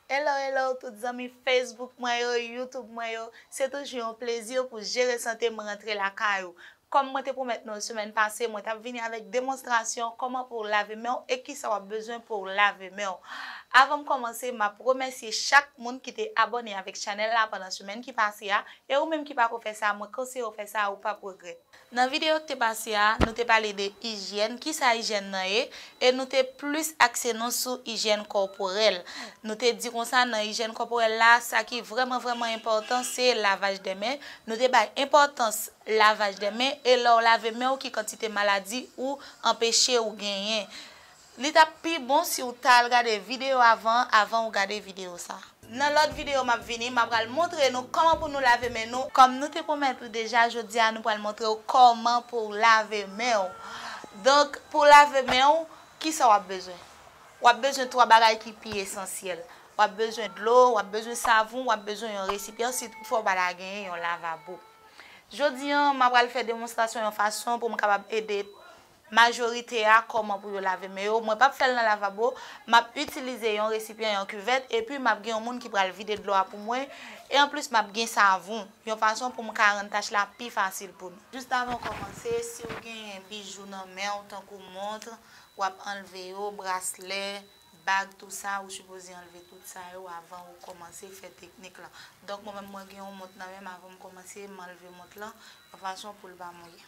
Hello hello tout zanmi Facebook mwen yo, YouTube mwen yo, se toujou yon plezi pou Jere Sante m rantre lakay ou. Kòm mwen te pwomèt nou semèn pase mwen tap vini avèk demonstrasyon kòman pou w lave men w e kisa wap bezwen pou w lave men w. Avan m kòmanse map remèsye chak moun ki te abòne avèk chanèl la pandan semèn ki pase a e ou menm ki pako fè sa mwen konseye w fè sa ou pap regrèt. Nan videyo ki te pase a, nou te pale de ijyèn, kisa ijyèn nan ye, e nou te plis akse nou sou ijyèn kòporèl. Nou te di konsa nan ijyèn kòporèl la, sa ki vrèman vrèman enpòtan se lavaj de men, nou te bay enpòtans lavaj de men e lè w lave men w ki kantite maladi ou anpeche ou genyen. Li tap pi bon siw ta al gade video avan an avan ou gade video sa. Nan lòt video map vini ma pral montre nou kòman pou nou lave men nou. Kòm nou te pwomèt ou deja jodi a nou pral montre ou kòman pouw lave men ou. Donk pouw lave men ou kisa wap bezwen? Wap bezwen 3 bagay ki pi esansyèl. Wap bezwen dlo, wap bezwen savon, wap bezwen yon resipyan si tout fwa ou pa ta genyen yon lavabo. Jodi an ma pral fè demonstrasyon yon fason poum kapab ede Majorite a kòman pou yo lave men yo, mwen pap fè l nan lavabo, m ap itilize yon resipyan, yon kivèt, epi m ap gen yon moun ki pral vide dlo a pou mwen, e anplis m ap gen savon, yon fason pou m ka rann tach la pi fasil pou nou. Jis avan w kòmanse, si w genyen bijou nan men w tankou montre, w ap anlve yo, braslè, bag tou sa, ou sipoze anlve tout sa yo avan ou kòmanse fè teknik lan. Donk mwen menm mwen gen yon mont nan men m avan m kòmanse m anlve mont lan yon fason pou l pa mouye.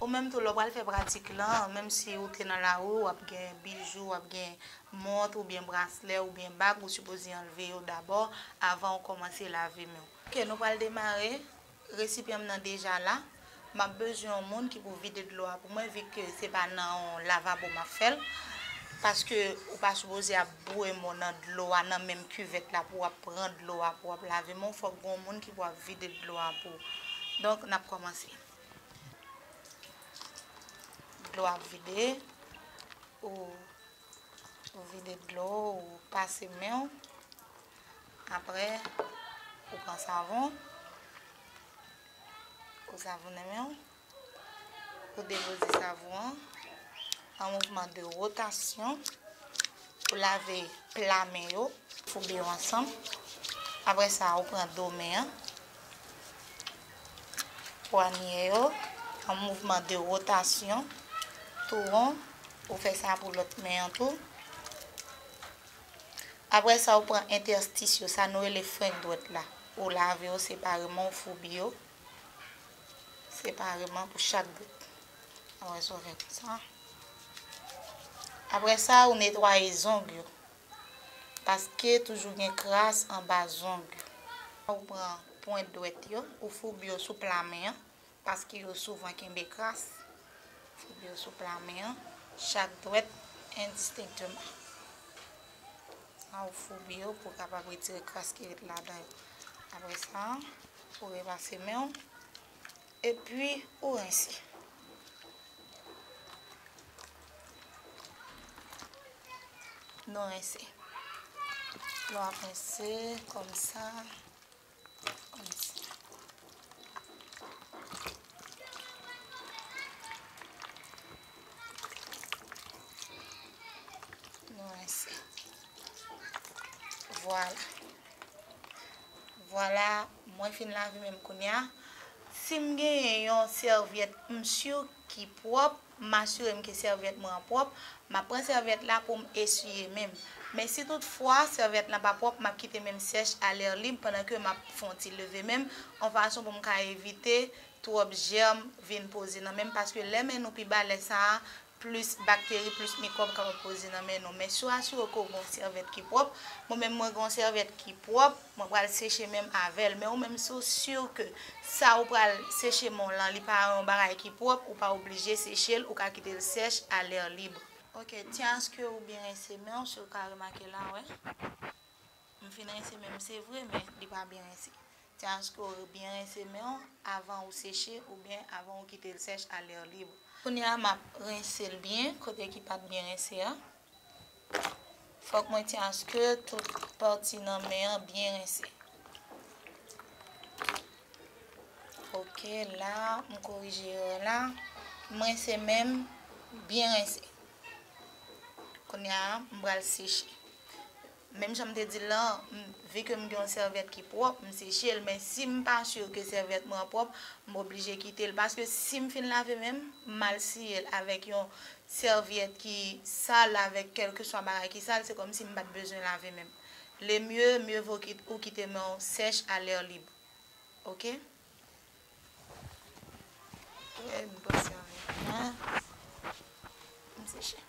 Ou menm tou lè w pral fè pratik lan, menm si ou te nan lari w ap gen bijou, w ap gen mont oubyen braslè oubyen bag, ou sipoze anlve yo dabò avan ou kòmanse lave men w. Ok nou pral demare, resipyan m nan deja la, m ap bezwen yon moun ki pou vide dlo a pou mwen vi ke se pa nan yon lavabo m ap fè l, paske ou pa sipoze ap boure men w nan dlo a nan menm kivèt la pou w ap pran dlo a pou w ap lave men w, fòk gen yon moun ki pou ap vide dlo a pou ou. Donk n ap kòmanse. Dlo ap vide, ou vide dlo ou pase men ou, apre ou pran savon, ou savonnen men ou, ou depoze savon an, an mouvman de rotasyon, ou lave pla men yo, foube yo ansanm, apre sa ou pran do men an, Pwanye yo an mouvman de rotasyon tou won. Ou fè sa pou lòt men an tou. Apre sa ou pran entèstis yo, sa nou rele frenk dwèt la. Ou lave yo separeman, ou foubi yo separeman pou chak bout. Apre sa ou netwaye zong yo. Paske toujou gen kras anba zong. Lè ou pran pwent dwèt yo, ou foube yo sou pla men an, paske yo souvan kenbe kras. Foube yo sou pla men an, chak dwèt endistenkteman. Sa ou foube yo pou kapab retire kras ki ret ladan yo. Apre sa, ou repase men ou. Epi ou rense. Nou rense. Nou ap rense kòm sa. Kòm sa. Nou rense. Vwala. Vwala. Mwen fin lave menm kounya. Sim genyen yon sèvyèt m sur ki pwòp, m asirem ke sèvyèt mwen an pwòp, map pran sèvyèt la poum esiye menm. Men si tout fwa sèvyèt lan pa pwòp map kite menm sèch a lèr lib pandan ke map fon ti leve menm on fason poum ka evite twòp jèrm vin poze nan menm paske lè men nou pi ba lè sa a plis bakteri, plis mikwòb kapab poze nan men nou. Men si w asire w ke w gen yon sèvèt ki pwòp, mwen menm mwen gen yon sèvèt ki pwòp, mwen pral seche men m avè l. Men ou menm si w si ke sa ou pral seche men w lan li pa yon bagay ki pwòp, ou pa oblije seche l, ou ka kite l sèch a lè lib. Ok, tyen aske ou byen rense men w, si w ka remake la wè m fin rense men m se vre men li pa byen rense. Se aske w byen rense men w avan ou seche oubyen avan ou kite l sèch a lè lib. Kounye a m ap rense l byen kote ki pa t byen rense a. Fòk mwen ti aske tout pati nan men an byen rense. Ok la m korije erè la. M rense men m byen rense. Kounye a m pral seche. Menm jan m te di l lan, m vi ke m gen yon sèvyèt ki pwòp, m seche l, men si m pa sur ke sèvyèt mwen an pwòp, m oblije kite l. Paske si m fin lave men m, m al siye l avèk yon sèvyèt ki sal, avèk kèlkeswa bagay ki sal, se kòmsi m pa t bezwen lave men m. Le mieux, mieux vaut ki ou kite men w sèch a l'air libre. Ok? Trè bon sèvyèt. Mwen, m seche.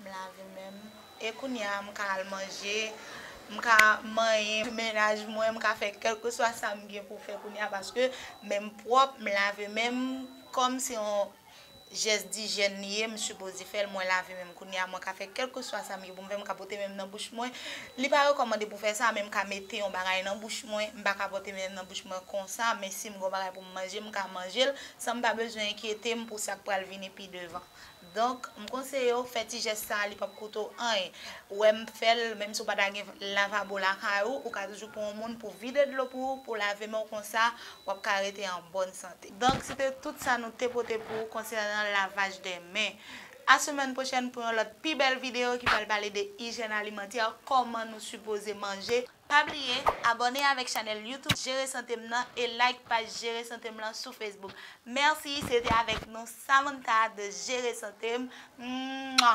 M lave menm. E kounya m ka al manje, m ka manyen pou mennaj mwen, m ka fè kèlkeswa sa m gen pou fè kounya paske men m pwòp, m lave men m. Kòm se yon jès dijèn li ye, m sipoze fè l, mwen lave men m kounya, mwen ka fè kèlkeswa sa m gen pou m fè, m ka pote men m nan bouch mwen. Li pa rekòmande pou fè sa, men m ka mete yon bagay nan bouch mwen, m pa ka pote men m nan bouch mwen konsa, men si m gen yon bagay pou m manje, m ka manje l san m pa bezwen enkyete m pou sa k pral vini pi devan. Donk m konseye w fè ti jès sa li pap koute w anyen. Ou wè m fè l, menm si w pa ta gen lavabo lakay ou, ou ka toujou pran yon moun pou vide dlo pou ou, pou w lave men w konsa wap ka rete an bòn sante. Donk se te tout sa nou te pote pou ou konsènan lavaj de men. A semèn pwochèn pou yon lòt pi bèl videyo ki pral pale de ijèn alimantè, kòman nou sipoze manje. Pa bliye abone avèk chanèl YouTube jere santem nan e like paj jere santem lan sou Facebook. Merci se te avèk nou Samantha de jere santem. Mwa.